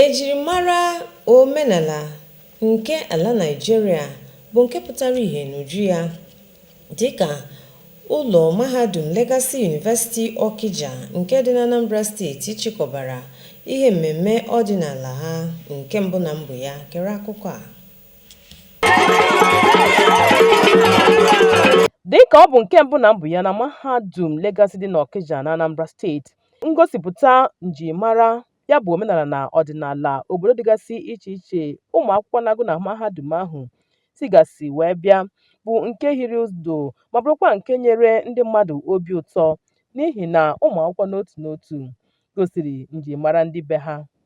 Ejirimara omenala nke ala Naịjirịa bụ nke pụtara ihe n'uju ya dịka ụlọ mahadum Legacy University Okija nke dị n'Anambra steeti chịkọbara ihe mmemme ọdịnala ha nke mbụ na mbụ ya. Gere akụkọ a. Dịka ọ bụ nke mbụ na mbụ ya na mahadum Legacy dị n'Okija n'Anambra steeti, ngosipụta njirimara ya bụ omenala na ọdịnala obodo dịgasị iche iche ụmụ akwụkwọ na-agụ na mahadum ahụ sigasị wee bịa bụ nke hiri ụdụ ma bụrụkwa nke nyere ndị mmadụ obi ụtọ n'ihi na ụmụ akwụkwọ n'otu n'otu gosiri njirimara ndị be ha.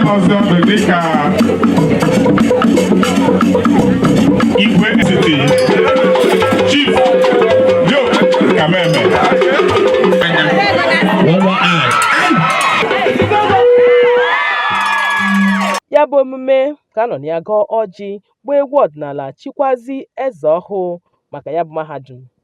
ọzọ bụ dịka igwe etiti chief Joe Kameme ya bụ omume ka a nọ na ya gọọ ọjị gbaa egwu ọdịnala chikwazi eze ọhụụ maka ya bụ mahadum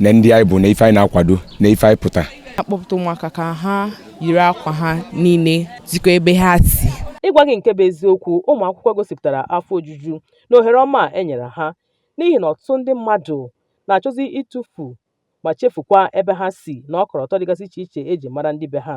na ndị anyị bụ na ife anyị na-akwado na ife anyị pụta akpọpụta ụmụaka ka ha yiri akwa ha niile zikọ ebe ha si ịgwa gị nke bụ eziokwu ụmụ akwụkwọ gosipụtara afọ ojuju n'ohere ọma e nyere ha n'ihi na ọtụtụ ndị mmadụ na-achọzi ịtụfu ma chefukwa ebe ha si na ọkọlọtọ dịgasị iche iche e ji mara ndị be ha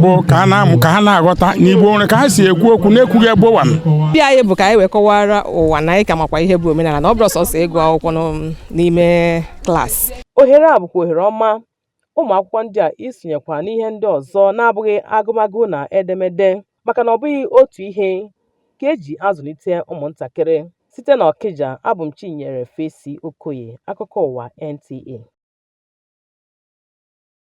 bụ ka ha na-amụ ka ha na-aghọta na Igbo nwere ka ha si ekwu okwu na-ekwughị ebumnobi anyị bụ ka anyị wee kọwara ụwa na anyị ka makwa ihe bụ omenala na ọ bụrọ sọsọ ịgụ akwụkwọ n'ụm- n'ime klaasị ohere a bụkwa ohere ọma ụmụ akwụkwọ ndị a isonyekwa n'ihe ndị ọzọ na-abụghị agụmagụ na edemede maka na ọ bụghị otu ihe ka e ji azụlite ụmụntakịrị site n'Okija abụ m chinyere fesi okoye akụkọ ụwa nta